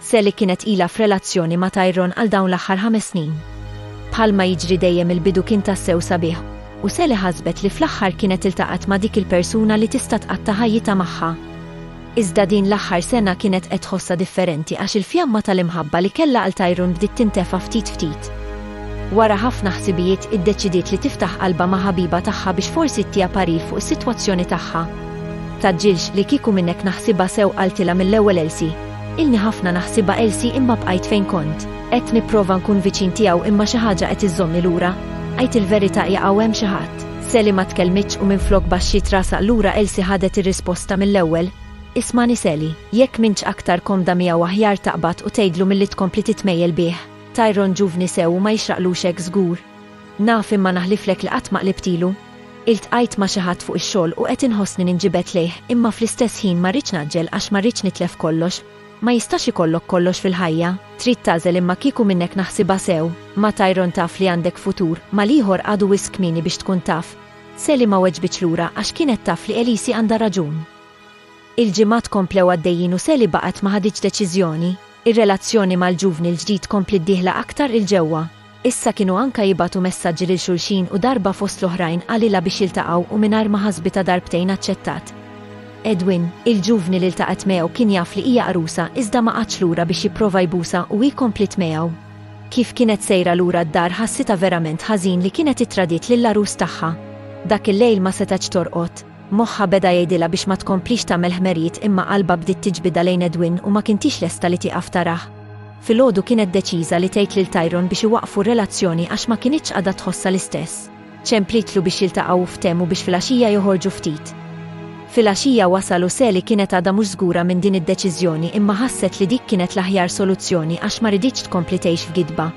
Sally kienet ilha f'relazzjoni ma' Tyrone għal dawn l-aħħar ħames snin. Bħalma jiġri dejjem il-bidu kien tassew sabiħ u Sally ħasbet li fl-aħħar kienet iltaqgħet ma' dik il-persuna li tista' tqatta' ħajjitha magħha. Iżda din l-aħħar sena kienet qed tħossha differenti għax il-fjamma tal-imħabba li kellha għal Tyrone bdiet tintefa' ftit ftit. Wara ħafna ħsibijiet iddeċidiet li tiftaħ qalbha ma' ħabiba tagħha biex forsi ttiha parir fuq is-sitwazzjoni tagħha. Tgħaġġilx li kieku minnhekk naħsibha sew qaltilha mill-ewwel Elsie. Ilni ħafna naħsibha Elsie imma bqajt fejn kont. Qed nipprova nkun viċin tiegħu imma xi ħaġa qed iżżommni lura. Għid il-verità hija hawn hemm xi ħadd. Sally ma tkellmitx u minflok baxxiet rasha lura Elsie ħadet ir-risposta mill-ewwel. Ismagħni Sally, jekk m'intx aktar komda miegħu aħjar taqbad u tgħidlu milli tkompli titmejjel bih. Tyrone ġuvni sew u ma jixraqlux hekk żgur. Naf imma naħliflek li qatt ma qlibt ilu. Iltqajt ma' xi ħadd fuq ix-xogħol u qed inħossni ninġibed lejh, imma fl-istess ħin ma rridx ngħaġġel għax ma rridx nitlef kollox. Ma jistax ikollok kollox fil-ħajja. Trid tagħżel imma kieku minnhekk naħsibha sew, ma' Tyrone taf li għandek futur, ma' l-ieħor għadu wisq kmieni biex tkun taf. Sally ma weġbitx lura għax kienet taf li Elise għandha raġun. Il-ġimgħat komplew għaddejjin u Sally baqgħet ma ħaditx deċiżjoni. Ir-relazzjoni mal-ġuvni l-ġdid kompliet dieħla aktar 'il ġewwa. Issa kienu anka jibgħatu messaġġi lil xulxin u darba fost l-oħrajn qalilha biex jiltaqgħu u mingħajr ma ħasbitha darbtejn aċċettat. Edwin, il-ġuvni li ltaqgħet miegħu kien jaf li hija għarusa iżda ma qagħadx lura biex jipprova jbusha u hi kompliet miegħu. Kif kienet sejra lura d-dar ħassitha verament ħażin li kienet ittradiet lill-għarus tagħha. Dak il-lejl ma setgħetx torqod. Moħħha beda jgħidilha biex ma tkomplix tagħmel ħmerijiet imma qalbha bdiet tiġbidha lejn Edwin u ma kintix lesta li tieqaf tarah. Filgħodu kienet deċiża li tgħid lil Tyrone biex iwaqqfu r-relazzjoni għax ma kinitx qagħda tħossha l-istess. Ċemplitlu biex jiltaqgħu u ftehmu biex filgħaxija joħorġu ftit. Filgħaxija wasal u Sally kienet għadha mhux żgura minn din id-deċiżjoni imma ħasset li dik kienet l-aħjar soluzzjoni għax ma riditx tkompli tgħix f'gidba.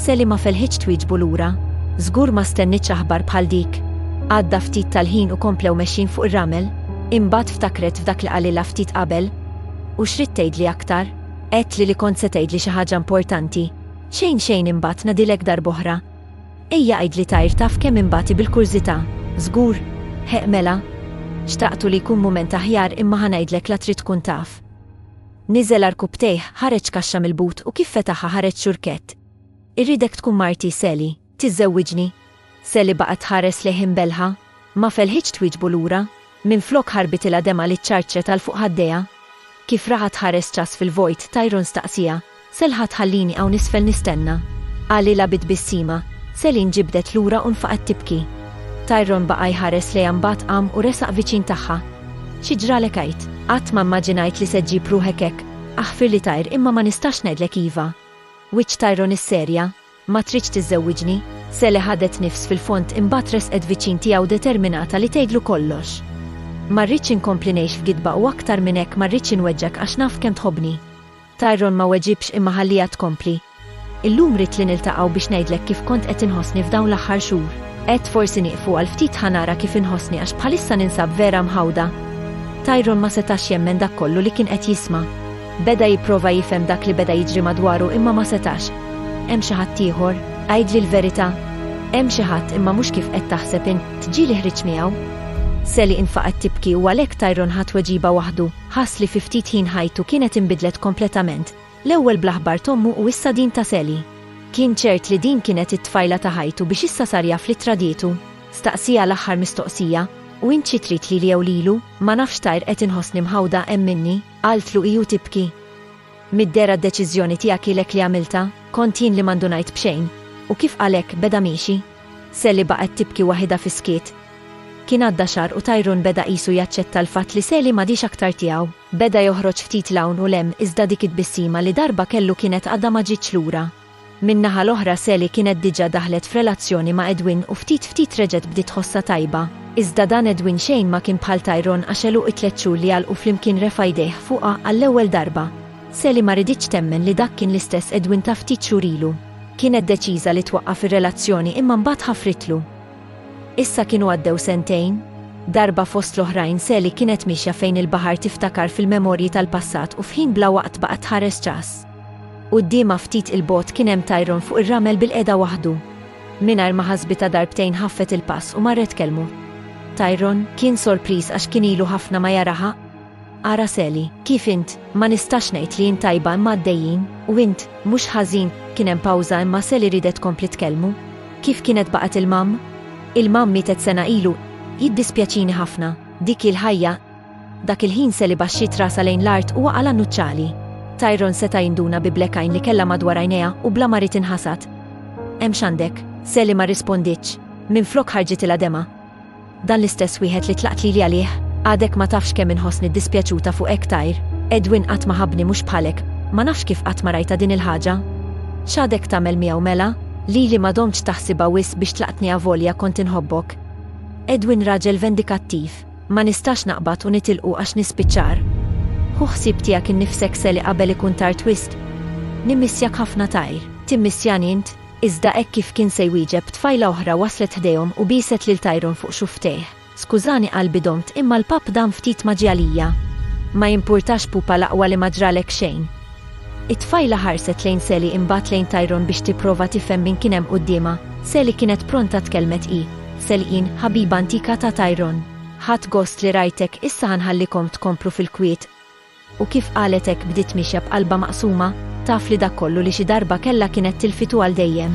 Sally ma felħitx twieġbu lura. Żgur ma stennietx aħbar bħal dik. Għadda ftit tal-ħin u komplew mexjin fuq ir-ramel. Imbagħad ftakret f'dak li qalilha ftit qabel. U x'ridt tgħidli aktar? Għedtli li kont se tgħidli xi ħaġa importanti. Xejn xejn imbagħad ngħadilek darb'oħra. Ejja għidli tajr taf kemm inbati bil-kurżità. Żgur? Ħeqq mela. Xtaqtu li jkun mument aħjar imma ħa ngħidlek la trid tkun taf. Niżel għar kubbtejh, ħareġ kaxxa mill-but u kif fetaħha ħareġ xurkett. Irridek tkun marti, Sally. Tiżżewwiġni? Sally baqgħet tħares lejh imbelħa. Ma felħitx twieġbu lura. Minflok ħarbitilha demgħa li ċċarċret għal fuq ħaddejha. Kif raha tħares ċass fil-vojt, Tyrone staqsieha, Selha Tħallini hawn isfel nistenna! qalilha bi tbissima. Selin ġibdet lura u nfaqgħet tibki. Tyrone baqa' jħares lejha mbagħad qam u resaq viċin tagħha. Xi ġralek għid? Qatt ma mmaġinajt li se ġġib ruħek hekk. Aħfirli Tyr imma ma nistax ngħidlek iva. Wiċċ Tyrone isserja. Ma tridx tiżżewwiġni? Sally ħadet nifs fil-fond imbagħad resqet viċin tiegħu determinata li tgħidlu kollox. Ma rridx inkompli ngħix f'gidba u aktar minn hekk ma rridx inweġġgħek għax naf kemm tħobbni. Tyrone ma weġibx imma ħalliha tkompli. Illum ridt li niltaqgħu biex ngħidlek kif kont qed inħossni f'dawn l-aħħar xhur. Għedt forsi nieqfu għal ftit ħa nara kif inħossni għax bħalissa ninsab vera mħawda. Tyrone ma setax jemmen dak kollu li kien qed jisma'. Beda jipprova jifhem dak li beda jiġri madwaru imma ma setax. Hemm xi ħadd ieħor? Għidli l-verità. Hemm xi ħadd imma mhux kif qed taħseb int, ġieli ħriġt miegħu. Sally infaqgħet tibki u għalhekk Tyrone ħa tweġiba waħdu, ħass li fi ftit ħin ħajtu kienet inbidlet kompletament, l-ewwel bl-aħbar t'ommu u issa din ta' Sally. Kien ċert li din kienet it-tfajla ta' ħajtu biex issa sar jaf li tradietu. Staqsieha l-aħħar mistoqsija, U int xi trid lili jew lilu? Ma nafx Tyr qed inħossni mħawda hemm minni. Qaltlu hi u tibki. Mid-dehra d-deċiżjoni tiegħek hi lek li għamiltha, kont jien li ma ndunajt b'xejn. U kif qal hekk, beda miexi. Sally baqgħet tibki waħidha fis-skiet. Kien għadda xahar u Tyrone beda qisu jaċċetta l-fatt li Sally m'għadhiex aktar tiegħu. Beda joħroġ ftit 'l hawn u 'l hemm iżda dik it-tbissima li darba kellu kienet għadha ma ġietx lura. Min-naħa l-oħra Sally kienet diġa daħlet f'relazzjoni ma' Edwin u ftit ftit reġgħet bdiet tħossha tajba. Iżda dan Edwin xejn ma kien bħal Tyrone għax għeluq it-tliet xhur li għalqu flimkien refa' jdejh fuqha għall-ewwel darba. Sally ma riditx temmen li dak kien l-istess Edwin ta' ftit xhur ilu. Kienet deċiża li twaqqaf ir-relazzjoni imma mbagħad ħafritlu. Issa kienu għaddew sentejn. Darba fost l-oħrajn Sally kienet miexja fejn il-baħar tiftakar fil-memorji tal-passat u f'ħin bla waqt baqgħet tħares ċass. Quddiemha ftit 'il bogħod kien hemm Tyrone fuq ir-ramel bilqiegħda waħdu. Mingħajr ma ħasbitha darbtejn ħaffet il-pass u marret tkellmu. Tyrone kien sorpriż għax kien ilu ħafna ma jaraha. Araceli, kif int? Ma nistax ngħid li int tajba imma għaddejjin, u int, mhux ħażin, kien hemm pawża imma Sally riedet tkompli tkellmu. Kif kienet baqgħet il-mamm? Il-mamm mietet sena ilu. Jiddispjaċini ħafna. Dik hi l-ħajja. Dak il-ħin Sally baxxiet rasha lejn l-art u waqa' l-annuċċali. Tyrone seta' jinduna bi black eye li kellha madwar għajnejha u bla ma ried inħasad. Hemm x'għandek? Sally ma rrispondietx. Minflok ħarġitilha demgħa. Dan l-istess wieħed li tlaqt lili għalih? Għadek ma tafx kemm inħossni ddispjaċuta fuqek Tyr. Edwin qatt ma ħabbni mhux bħalek. Ma nafx kif qatt ma rajta din il-ħaġa. X'għadek tagħmel miegħu mela? Lili ma domtx taħsibha wisq biex tlaqtni avolja kont inħobbok. Edwin raġel vendikattiv. Ma nistax naqbad u nitilqu għax nispiċċar. Hu ħsieb tiegħek innifsek Sally qabel ikun tard wisq? Nimmissjak ħafna Tyr. Timmissjani int? Iżda hekk kif kien se jwieġeb, tfajla oħra waslet ħdejhom u bieset lil Tyrone fuq xufftejh. Skużani qalbi domt imma l-papp dam ftit ma ġie għalija. Ma jimpurtax pupa l-aqwa li ma ġralek xejn. It-tfajla ħarset lejn Sally imbagħad lejn Tyrone biex tipprova tifhem min kien hemm quddiemha. Sally kienet pronta tkellmet hi. Sally jien, ħabiba antika ta' Tyrone. Ħadt gost li rajtek, issa ħa nħallikom tkomplu fil-kwiet. U kif qalet hekk bdiet mixja b'qalbha maqsuma, taf li dak kollu li xi darba kellha kienet tilfitu għal dejjem.